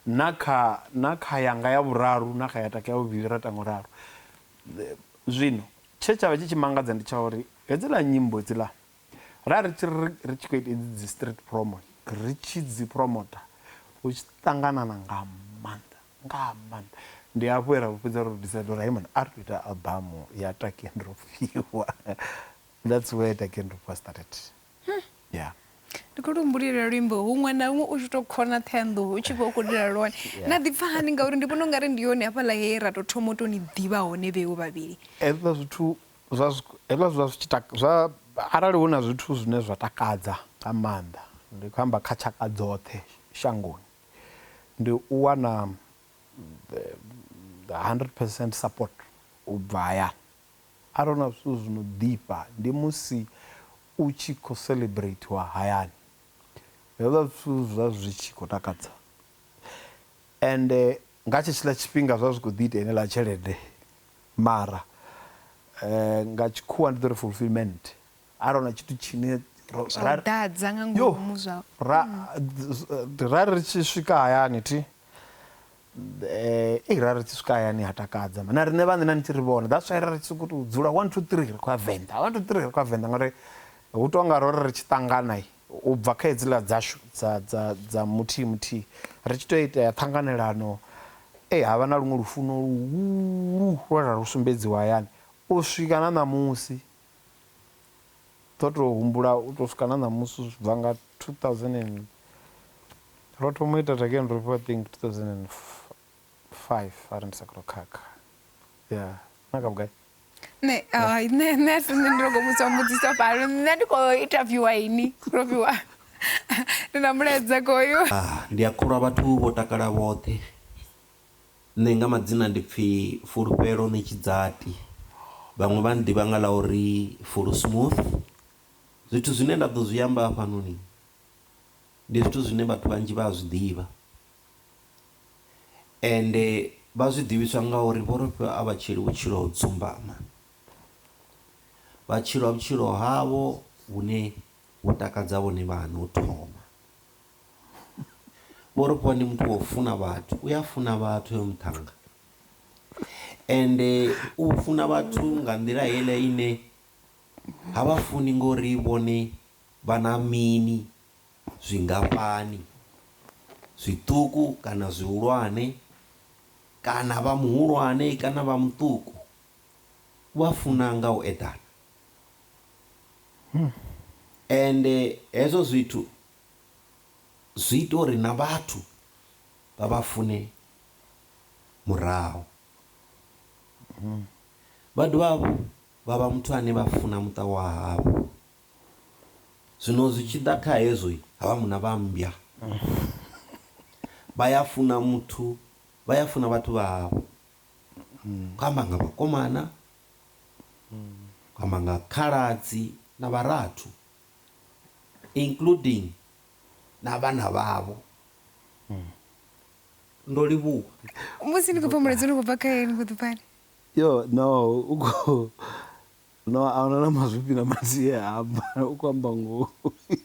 Na kha, na kha yanga ya vhuraru na kha ya Taki ya vhuvhili ra ita nga u ralo. Zwino, tshe tsha vha tshi tshi mangadza ndi tsha uri hedziḽa nyimbo hedziḽa, ra ri tshi ri, ri tshi khou ita hedzi dzi street promo, ri tshi dzi promoter, hu tshi ṱanganana nga maanḓa. Nga maanḓa. Ndi hafho he ra vhu fhedza ro decide uri hai mani a ri to ita album ya Taki and Rofhiwa. That's where Taki and Rofhiwa started. Yeah. Ndi kho to humbulela luimbo huṅwe na huṅwe u tshi to khona Ṱhohoyanḓou u tshi vha u khou lila lwone. Na ḓi pfa hani ngauri ndi vhona ungari ndi hone hafhaḽa he ra to thoma u to ni ḓivha hone vheo vhavhili. Hezwiḽa zwithu zwa hezwiḽa zwa zwi tshi zwa arali hu na zwithu zwine zwa takadza nga maanḓa ndi khou amba kha tshaka dzoṱhe shangoni Ndi u wana hundred percent support u bva hayani. Arali hu na zwithu zwi no ḓifha ndi musi u tshi khou celebratiwa hayani. Hezwiḽa zwithu zwi vha zwi tshi khou takadza ende nga tshetshiḽa tshifhinga zwi vha zwi khou ḓi ita heneiḽa tshelede mara nga tshikhuwa ndi ḓo ri fulfilment. a ro na tshithu tshine ḓadza nga ngomu zwa ra ri tshi swika hayani thi eh i ra ri tshi swika hayani ha takadza na riṋe vhaṋe na nitshi ri vhona that's why ra ri tshi sokou tou dzula 1 2 3 ri khou ya venḓa 1 2 3 ri khou ya venḓa ngauri hu tou nga ro ri ri tshi ṱangana u bva kha hedziḽa dzashu dza dza dza muthihi muthihi ri tshi tou itea ṱhanganelano e ha vha na luṅwe lufuno luhulu lwe ra lu sumbedziwa hayani u swika na ṋamusi ḓo tou humbula u tou swika na ṋamusi zwi bva nga 2000 and ro thoma u ita Tageni Rofhiwa I think 2005 arali ndi sa khou khakha ya na kha vhugai nṋe hai nṋe nṋe a si nṋe ndi longo vhudzwa mbudziso fhano nṋe ndi khou interviewa ini Rofhiwa ndi na mulaedza koyo ah, ndi a kholwa vhathu vho takala vhoṱhe Nṋe nga madzina ndi pfi Fulufhelo Ṋetshidzati, vhaṅwe vha nnḓivha nga ḽa uri Fulu Smooth. Zwithu zwine nda ḓo zwi amba hafhanoni, ndi zwithu zwine vhathu vhanzhi vha a zwiḓivha, ende vha zwi ḓivhiswa nga uri vho ri fha a vha tshili vhutshilo ho dzumbama. Vha tshila vhutshilo havho vhune vhu takadza vhone vhaṋe u thoma. Vho Rofhiwa ndi muthu wa u funa vhathu, u a funa vhathu hoyo muṱhannga ende u funa vhathu nga nḓila heiḽa ine ha vha funi ngori vhone vha na mini, zwingafhani, zwiṱuku kana zwihulwane kana vha muhulwane kana vha muṱuku. U vha funa nga u eḓana. Ende hezwo zwithu zwi ita uri na vhathu vha vha fune murahu. Vha dovha hafhu vha vha muthu ane vha funa muṱa wa havho. Zwino zwi tshi ḓa kha hezwo, ha vha munna vha mmbwa. Vha ya funa muthu, vha ya funa vhathu vha havho. Khou amba nga vhakomana, amba nga khaladzi na vharathu including na vhana vhavho. Ndo livhuwa. Musi ni khou pfa mulaedza u no khou bva kha Yee ni khou ḓi pfani? Yoh no u khou no ahuna na mazwifhi na madzie amba u khou amba ngoho.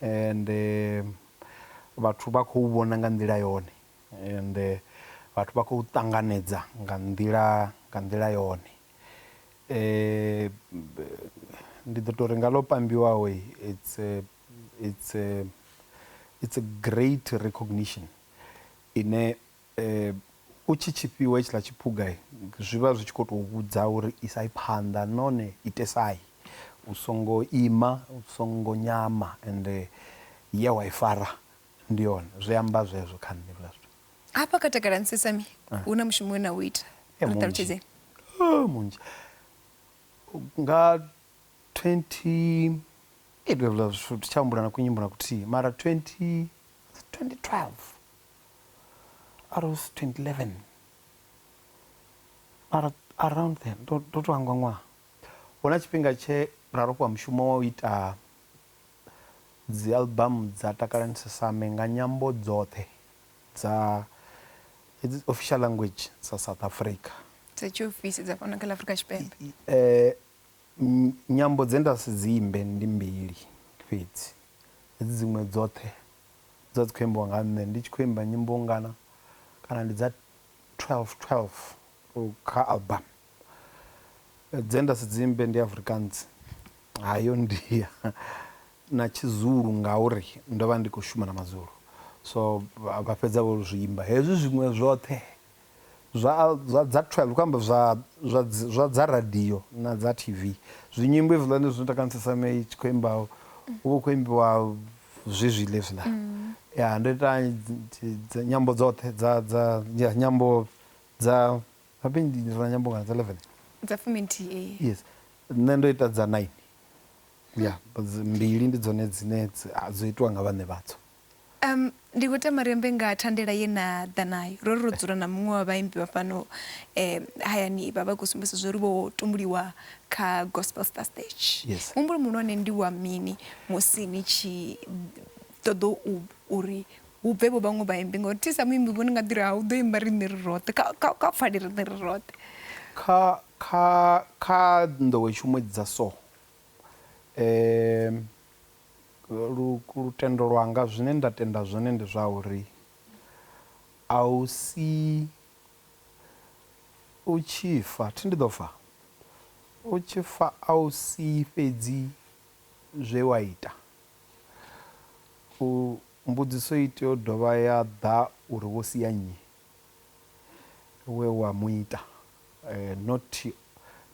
and vhathu vha khou vhona nga nḓila yone and vhathu vha khou ṱanganedza nga nḓila nga nḓila yone ndi ḓo tori nga ḽo pambiwaho it's a, it's a, it's a great recognition ine U tshi tshi fhiwa hetshiḽa tshiphuga, zwi vha zwi tshi khou tou vhudza uri isai phanḓa nahone itesai. U songo ima, u songo nyama ende ye wa i fara ndi yone. Zwi amba zwezwo kha nṋe hezwiḽa zwithu. Hafha kha Takalani Sesame hu na mushumo we na u ita, ri ṱalutshedzeni. Munzhi, munzhi. Nga twenty, hezwiḽa zwithu thi tsha humbula na kunyimbo na kuthihi mara twenty, was it twenty twelve? Aros 2011 Ar around then ndo ndo to hangwa ṅwaha huna tshifhinga tshe ra ro fhiwa mushumo wa u ita dzi album dza Takalani Sesame nga nyambo dzoṱhe dza hedzi official language dza South Africa. Dza tshiofisi dza fhano kha ḽa Afrika Tshipembe. Nyambo dze nda si dzi imbe ndi mbili fhedzi hedzi dziṅwe dzoṱhe Dza dzi khou imbiwa nga nṋe ndi tshi khou imba nyimbo ngana kana ndi dza 12 12 kha album dze nda si dzi imbe ndi Afrikaans ha yo ndia na tshi zulu ngauri ndo vha ndi kho shuma na mazulu so vha fhedza vho zwi imba hezwi zwiṅwe zwoṱhe zwa zwa dza 12 khou amba zwa zwa zwa dza radio na dza TV zwi nyimbo hezwiḽani zwi ita khamusi sa me tshi khou imba hu vha hu khou imbiwa zwezwiḽa hezwiḽa ya ndo ita dzi nyambo dzoṱhe dza dza ya nyambo dza habe ndi na nyambo ngana dza 11 dza fumi nthihi yes nṋe ndo ita dza 9 ya mbili ndi dzone dzine dzo itiwa nga vhaṋe vhadzo. Um, ndi khou tama ri ambe nga thandela ye na ḓa nayo. Ro ri ro dzula na muṅwe wa vhaimbi vha fhano eh, hayani vha vha khou sumbedzisa zwo ri vho tumbuliwa kha Gospel Star Stage. Yes. Muhumbulo muhulwane ndi wa mini musi ni tshi ṱoḓa u uri hu bve vho vhaṅwe vhaimbi ngauri thi sa muimbi vho ni nga ḓi ri ha u ḓo imba riṋe ri roṱhe kha kha kha pfale riṋe ri roṱhe. kha kha kha nḓowetshumo dza so um Lutendo lwanga, zwine nda tenda zwone ndi zwa uri a u si u tshi fa, thi ndi ḓo fa? U tshi fa a u si fhedzi zwe wa ita. U, mbudziso i tea u dovha ya ḓa uri wo sia nnyi? we wa mu ita, not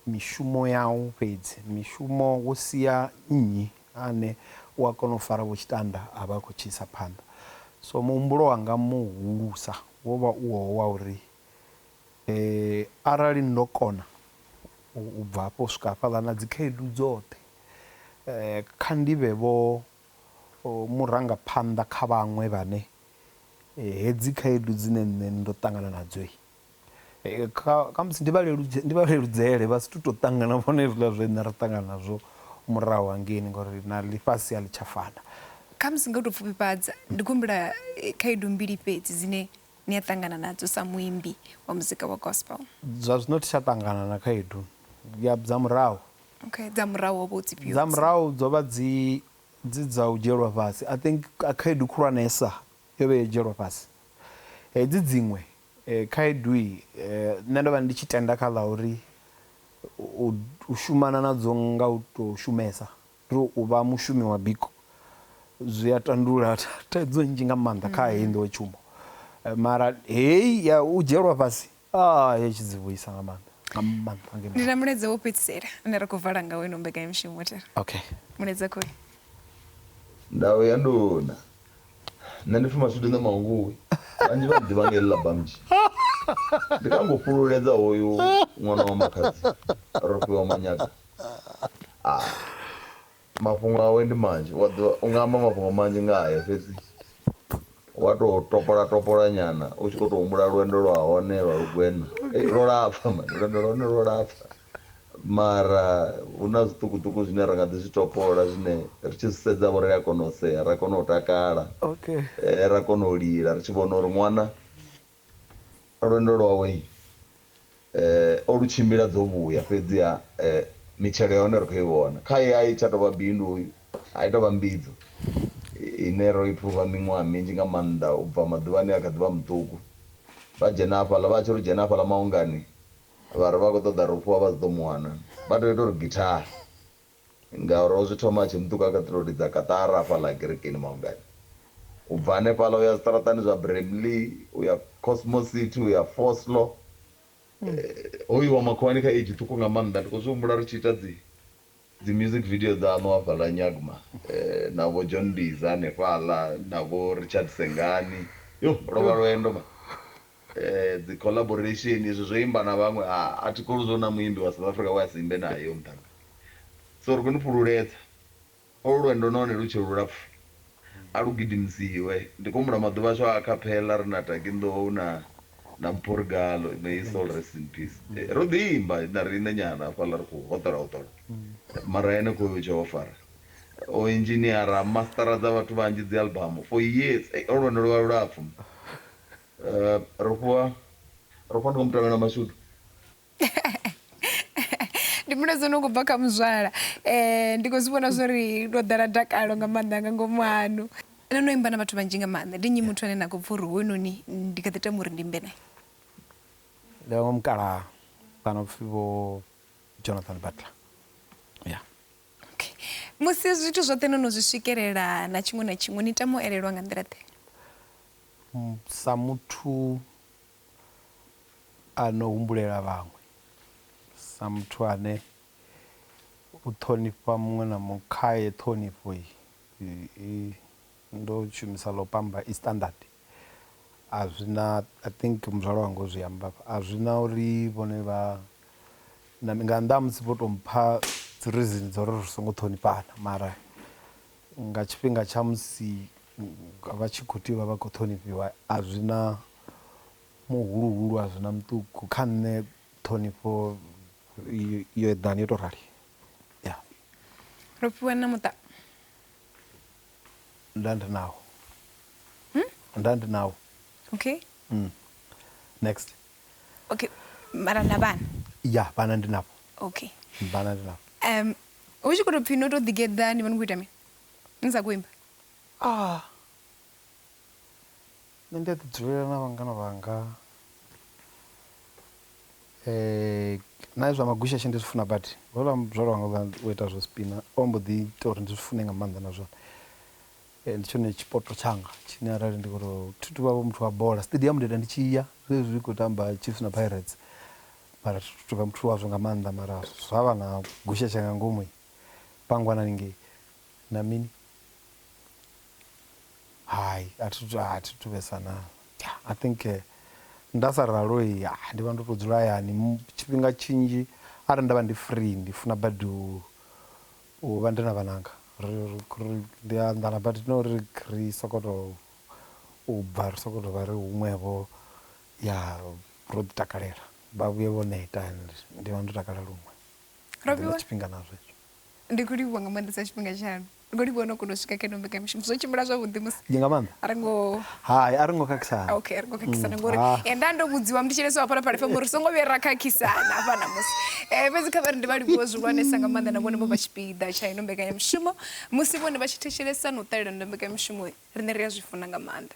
mishumo yau fhedzi, mishumo wo sia nnyi ane u a kona u fara vho tshitanda a vha a khou tshi isa phanḓa. So muhumbulo wanga muhulusa wo vha u wowo wa uri arali ndo kona u bva hafho u swika hafhaḽa na dzikhaedu dzoṱhe kha ndi vhe vho O murangaphanḓa kha vhaṅwe vhane hedzi khaedu dzine nṋe ndo ṱangana nadzo kha khamusi ndi vha leludze ndi vha leludzele vha si tu to ṱangana vhone hezwiḽa zwe nṋe ra ṱangana nazwo murahu hangeini ngori na ḽifhasi a ḽi tsha fana. Khamusi nga u to pfufhifhadza ndi khou humbula khaedu mbili fhedzi dzine ni a ṱangana nadzo sa muimbi wa muzika wa gospel? Zwa zwino thi tsha ṱangana na khaedu ya dza murahu. Okay, dza murahu ho vha hu dzi fhio? Dza murahu dzo vha dzi dzi dza u dzhielwa fhasi. I think khaedu khulwanesa yo vha yo dzhielwa fhasi. Hedzi dziṅwe khaedu nṋe ndo vha ndi tshi tenda kha ḽa uri u shumana nadzo nga u to shumesa. Ri u vha mushumi wa biko zwi a tandulula thaidzo nnzhi nga maanḓa kha heyi nḓowetshumo mara heyi ya u dzhielwa fhasi a yo tshi dzi vhuisa nga maanḓa nga maanḓa nge Ndi na mulaedza wo fhedzisela une ra khou vala ngawo ino mbekanyamushumo thera. okay Mulaedza khou ri. Ndau ya nduna. Nṋe ndi pfi Mashudu Nṋe Mannguvhi, vhanzhi vha nḓivha nga heḽi ḽa Bamji. Ndi kha nga u fhululedza hoyu ṅwana wa makhadzi Rofhiwa Manyaga. Ah, mafhungo awe ndi manzhi wa ḓivha u nga amba mafhungo manzhi nga hae fhedzi wa to topola topola nyana u tshi kho to humbula lwendo lwa hone lwa lugwena Eh, lwo lapfa mani lwendo lwa hone lwo lapfa mara hu na zwiṱukuṱuku zwine ra nga ḓi zwi topola zwine ri tshi zwi sedza vho ri a kona u sea ra kona u takala okay eh, ra kona u lila ri tshi vhona uri ṅwana Lwendo lwawe o lu tshimbila dzo vhuya, fhedziha mitshelo ya hone ri khou i vhona. Khae a i tsha tou vha bindu, a i tou vha mbidzo ine ro i phuva miṅwaha minzhi nga maanḓa u bva maḓuvhani e a kha ḓi vha muṱuku. Vha dzhena hafhaḽa, vha tshi ri u dzhena hafhaḽa maungani vha ri vha khou ṱoḓa ri u fhiwa vha si ḓo mu wana, vha tou ita uri githaha. Ngauri o zwi thoma a tshi nṱuka kha ṱhirodi dza Kaṱara hafha ḽa Kerekeni Maungani. U bva hanefhaḽa u ya zwiṱaraṱani zwa Bremley, u ya Cosmo City, u ya Foslo. Ho iwa makhuwani kha age ṱhukhu nga maanḓa. Ndi khou zwi humbula ri tshi ita dzi dzi music video dzaṋu hafhaḽa Nyagma na vho John Mbiza hanefhaḽa na vho Richard Sengani. Yoh, lwo vha lwendo man. Dzi collaboration izwi zwo imba na vhaṅwe a a thi kholwi zwa uri na muimbi wa South Africa we a si imbe nae hoyo muṱhannga so ri khou ni fhululedza olu lwendo nahone lu tshe lulapfu a lu gidimisiwe ndi khou humbula maḓuvha ashu a acapella ri na Taki Nḓou na na Mpho Rigalo may his soul rest in peace ro ḓi imba na riṋe nyana hafhaḽa ri khou hoṱola hoṱola mara henefho hoyo tshe o fara o engineer a master dza vhathu vhanzhi dzi album for years ey olu lwendo lwo vha lulapfu. ro fhiwa ro fhiwa ndi nga mutangana mashudu ndi muno dzo no khou bva kha muzwala um ndi khou zwi vhona zwo ri ndo ḓala dakalo nga maanḓa nga ngomu hanu no no imba na vhathu vhanzhi nga maanḓa ndi nnyi muthu ane na khou pfa uri hoyunoni ndi kha ḓi tama uri ndi imbe naye ndi vhaṅwe mukala kana upfhi vho jonathan butler ya okay musi zwithu zwoṱhe no no zwi swikelela na tshiṅwe na tshiṅwe ni tama u elelwa nga nḓila ḓe Sa muthu a no humbulela vhaṅwe, sa muthu ane u ṱhonifha muṅwe na muṅwe khaye ṱhonifho i ndo shumisa ḽo pamba i standard a zwi na I think muzwala wanga o zwi amba hafha a zwi na uri vhone vha na nga nnḓa ha musi vho tou mpha dzi reason dza uri ri songo ṱhonifhana mara. Nga tshifhinga tsha musi vha tshi khou tea u vha vha khou ṱhonifhiwa, a zwi na muhuluhulu, a zwi na muṱuku. Kha nṋe ṱhonifho yo eḓana, yo tou rali. Ya. Ro fhiwa na muṱa. Nda ndi nawo. Nda ndi nawo. Okay. Next. Okay mara na vhana? Ya vhana ndi navho. Okay. Vhana ndi navho. Um hu tshi kho to pfhi no to ḓi geḓa ni vha ni kho ita mini ni sa kho imba? Ah nṋe ndi a ḓi dzulela na vhangana vhanga na zwa magushashe ndi zwi funa badi houḽa muzwala wanga u ita zwo spina o mbo ḓi ita uri ndi zwi fune nga maanḓa na zwone. Ndi tshone tshipoto tshanga tshine arali ndi khoto thi tu vha vho muthu wa bola stadium ndi ita ndi tshi ya zwezwi ri kho tamba chiefs na pirates mara thi tu tovha muthu wazwo nga maanḓa mara zwa vha na gusheshe nga ngomu pangwana haningei na mini hai a thi tu a thi tu vhesa na i think nda sa ralo ndi vha ndo to dzula hayani tshifhinga tshinzhi arali nda vha ndi free ndi funa badi u U vha ndi na vhananga ri ri ndi a anḓana but not uri ri soko to u bva ri soko to vha ri huṅwe vho ya ro ḓi takalela vha vhuye vho neta and ndi vha ndo takala luṅwe ndi na tshifhinga na zwo hezwo. Ndi kho livhuwa nga maanḓesa tshifhinga tshaṋu ri kho livhuwa no kona u swika kha ino mbekanya mushumo zwo tshimbila zwavhuḓi musi ndi nga maanḓa ri ngo hai a ri ngo khakhisana ok ri ngo khakhisana ngori Ah. eh, nda ndo vhudziwa ndi tshileso hafha na phala fm uri songo vhuya ra khakhisana hafha namusi um fhedzi kha vhari ndi vha livhuwe zwihulwanesa nga maanḓa na vhone vho vha tshipiḓa tsha ino mbekanyamushumo musi vhone vha tshi thetshelesa na u ṱalela ndo mbekanyamushumo riṋe ri a zwi funa nga maanḓa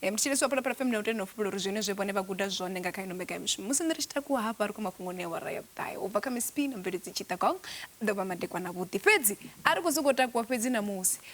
um ndi tshileso hafha na phala fm na u tenda u fhulula uri zwine zwe vhone vha guda zwone nga kha ino mbekanyamushumo musi nṋe ri tshi takuwa hafha ri khou mafhungoni ya wara ya vhuṱahe u bva kha misipi na mveledzi tshitagong ḓo vha madekwana vhuḓi fhedzi a ri khou sokou takuwa fhedzi namusi